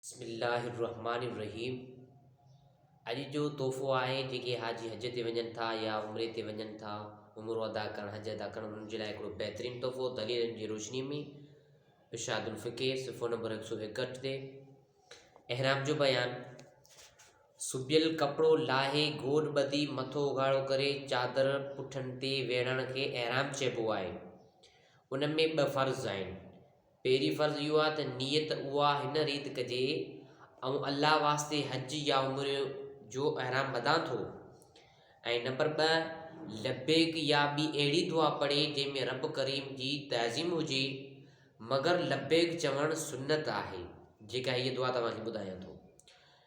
بسم الله الرحمٰن الرحيم اڄ جو تحفو آهي جيڪي حاجي حج تي وڃن ٿا يا عمري تي وڃن ٿا عمرو ادا ڪرڻ حج ادا ڪرڻ انهن جي لاء هڪڙو بهترين تحفو دليلن جي روشني ۾ ارشاد الفقه صفحو نمبر هڪ سو اڪهٺ تي احرام جو بيان سبيل ڪپڙو لاهي گوڏ ٻڌي مٿو اگهاڙو ڪري چادر پٺن تي ويڙهڻ کي احرام چئبو آهي ان ۾ ٻه فرض آهن پهرين فرض اهو آهي ته نيت اها هن ريت ڪجي، آئون الله واسطي حج يا عمري جو احرام ٻڌان ٿو ۽ نمبر ٻه لبيڪ يا ٻي اهڙي دعا پڙهي جنهن ۾ رب ڪريم جي تعظيم هجي مگر لبيڪ چوڻ سنت آهي جيڪا هيء دعا توهان کي ٻڌايان ٿو.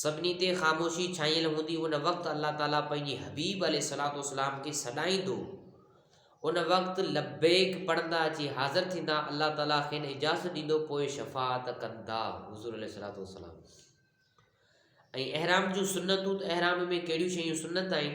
سڀني تي خاموشي ڇانيل هوندي ان وقت الله تعالي پنهنجي حبيب عليه الصلوة والسلام کي سڏائيندو ان وقت لبيڪ پڙهندا اچي حاضر ٿيندا الله تعالي کين اجازت ڏيندو پوء شفاعت ڪندا حضور عليه الصلوة والسلام ۽ احرام جون سنتون ته احرام ۾ ڪهڙيون شيون سنت آهن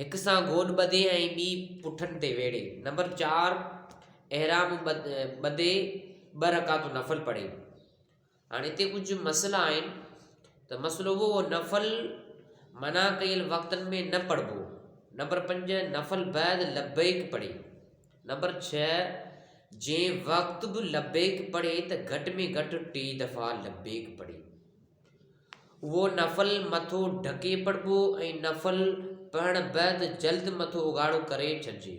هڪ سان گوڏ ٻڌي ۽ ٻي پٺن تي ويڙهي. نمبر چار احرام ٻڌي ٻه رڪعتون نفل پڙهي. هاڻي هتي ڪجهه مسئلا آهن ته مسئلو هو نفل منع ڪيل وقتن ۾ نه پڙهبو نمبر پنج نفل بعد لبيڪ پڙهي نمبر ڇهه جنهن وقت به لبيڪ پڙهي ته گهٽ ۾ گهٽ ٽي دفعا لبيڪ پڙهي اهو نفل مٿو ڍڪي پڙهبو ۽ نفل پڙهڻ بعد جلد مٿو اگهاڙو ڪري ڇڏجي.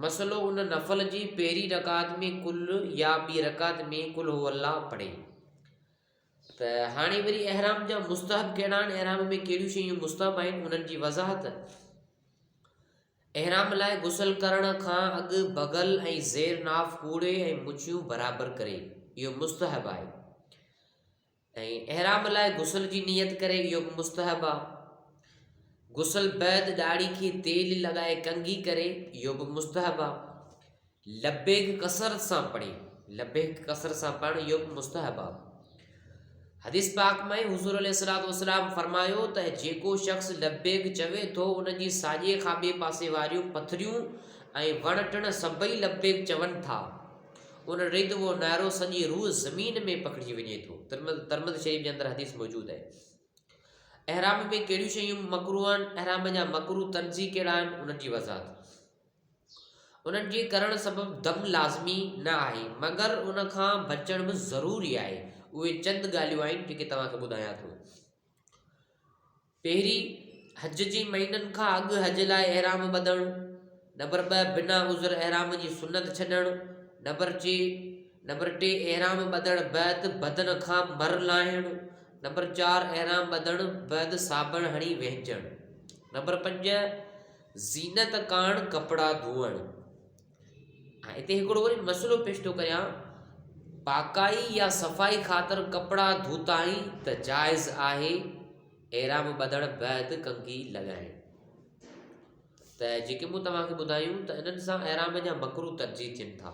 مسئلو ان نفل جي پهرين رڪعت ۾ قل يا ٻي رڪعت ۾ قل هو الله پڙهي ته هاڻي وري احرام جا مستحب ڪهڙا آهن احرام ۾ ڪهڙيون شيون مستحب آهن انهن جي وضاحت احرام لاء غسل ڪرڻ کان اڳ بغل ۽ زير ناف ڪوڙي ۽ مڇيون برابر ڪري، اهو مستحب آهي. ۽ احرام لاء غسل جي نيت ڪري، اهو به مستحب آهي. غسل بعد ڏاڙهي کي تيل لڳائي ڪنگهي ڪري، اهو به مستحب آهي. لبيڪ ڪثرت سان پڙهي لبيڪ ڪثرت سان پڙهڻ اهو به مستحب آ حديث پاک ۾ حضور عليه الصلوۃ والسلام فرمايو ته جيڪو شخص لبيڪ چوي ٿو ان جي ساڄي کان ٻئي پاسي واريون پٿريون ۽ وڻ ٽڻ سڀئي لبيڪ چون ٿا ان ريت اهو نعرو سڄي روح زمين ۾ پکڙجي وڃي ٿو ترمد ترمد شريف جي اندر حديث موجود آهي احرام ۾ ڪهڙيون شيون مڪرو آهن احرام جا مڪرو تنظي ڪهڙا آهن انهن جي وضاحت انهن جي ڪرڻ سبب دم لازمي نه آهي، مگر ان کان بچڻ به ضروري آهي. اهي چند ڳالهيون آهن جيڪي توهان کي ٻڌايان ٿو. پهرين حج جي مهينن کان اڳ حج لاء احرام ٻڌڻ، نمبر ٻه بنا عذر احرام جي سنت ڇڏڻ، نمبر چي نمبر ٽي احرام ٻڌڻ بعد بدن کان مر لاهڻ، نمبر چار احرام ٻڌڻ بعد صابڻ هڻي وهنجڻ، نمبر پنج زينت ڪاڻ ڪپڙا ڌوئڻ. هاڻي هتي هڪڙو وري مسئلو پيش ٿو ڪريان پاڪائي يا صفائي خاطر ڪپڙا ڌوتائين ته جائز آهي احرام ٻڌڻ بعد ڪنگهي لڳائڻ ته جيڪي مون توهان کي ٻڌايون ته انهن سان احرام جا مڪروه ترجيح ٿين ٿا